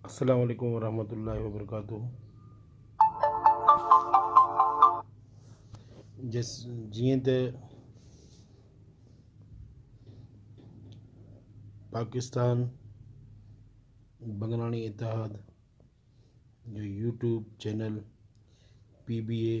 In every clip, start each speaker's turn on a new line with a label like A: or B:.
A: السلام عليڪم ورحمة الله وبرڪاته جس جيئن ته پاڪستان بنگلاڻي اتحاد جو YouTube channel P B A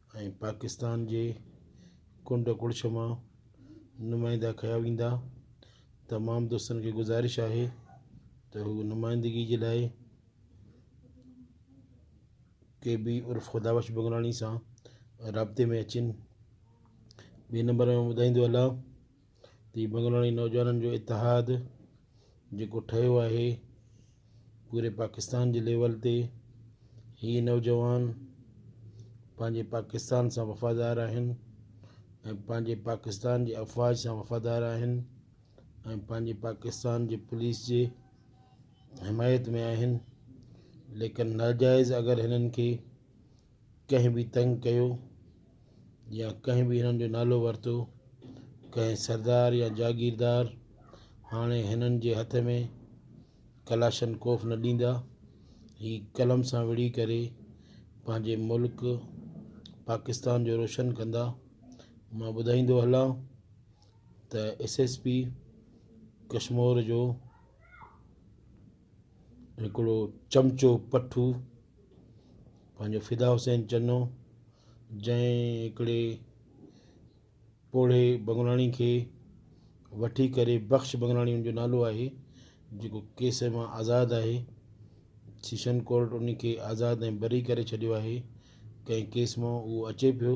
A: ۽ Pakistan جي ڪنڊ ڪڙڇ مان نمائندا ڪيا ويندا تمام دوستن کي گذارش آهي ته هو نمائندگي جي لاء ڪي بي عرف خدا بخش بگلاڻي سان رابطي ۾ اچن ٻي نمبر ۾ ٻڌائيندو هلان تي بنگلاڻي نوجوانن جو اتحاد جيڪو ٺهيو آهي پوري پاڪستان جي ليول تي هي نوجوان پنهنجي پاڪستان سان وفادار آهن ۽ پنهنجي پاڪستان جي افواج سان وفادار آهن ۽ پنهنجي پاڪستان جي پوليس جي حمايت ۾ آهن ليڪن ناجائز اگر هنن کي ڪنهن به تنگ ڪيو يا ڪنهن به هنن جو نالو ورتو ڪنهن سردار يا جاگيردار هاڻي هنن جي هٿ ۾ ڪلاشن ڪوف نه ڏيندا هي قلم سان وڙهي ڪري پنهنجي ملڪ پاڪستان جو روشن ڪندا مان ٻڌائيندو هلان ته ايس ايس پي ڪشمور جو هڪڙو چمچو پٺو پنهنجو فدا حسين چنو جنهن هڪڙي پوڙهي بنگلاڻي کي وٺي ڪري بخش بنگلاڻي ان جو نالو آهي جيڪو ڪيس مان آزاد آهي سيشن ڪورٽ ان کي آزاد ۽ بري ڪري ڇڏيو آهي ڪنهن ڪيس مان اهو اچي پيو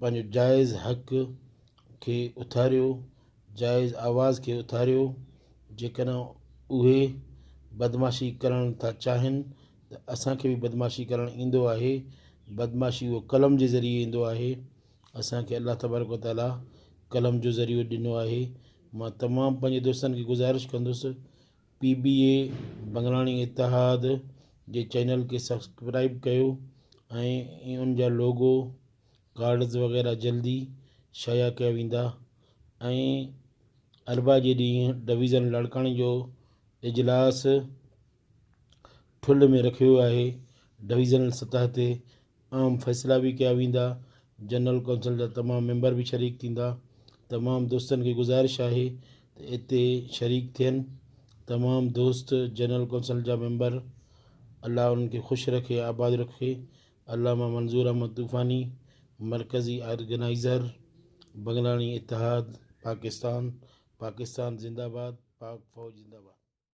A: پنهنجو جائز حق کي اٿاريو، جائز آواز کي اٿاريو، جيڪڏهن اهي بدمعاشي ڪرڻ ٿا چاهين ته اسان کي به بدمعاشي ڪرڻ ايندو آهي، بدمعاشي اهو قلم جي ذريعي ايندو آهي، اسان کي الله تبارڪ و تعاليٰ قلم جو ذريعو ڏنو آهي، مان تمام پنهنجي دوستن کي گذارش ڪندس. P B A Banglani Ittehad جي چينل کي سبسڪرائب ڪيو ۽ ان جا لوگو ڪارڊز وغيره جلدي شايع ڪيا ويندا ۽ اربع جي ڏينهن ڊويزن لاڙڪاڻي جو اجلاس ٺلهه ۾ رکيو ويو آهي ڊويزنل سطح تي اهم فيصلا به ڪيا ويندا، جنرل ڪونسل جا تمام ميمبر به شريڪ ٿيندا، تمام دوستن کي گذارش آهي ته اتي شريڪ ٿين، تمام دوست جنرل ڪونسل جا ميمبر الله انهن کي خوش رکي آباد رکي، علامه منظور احمد طوفاني مرڪزي آرگنائيزر بنگلاڻي اتحاد پاڪستان پاڪستان زنداباد پاڪ فوج زنداباد.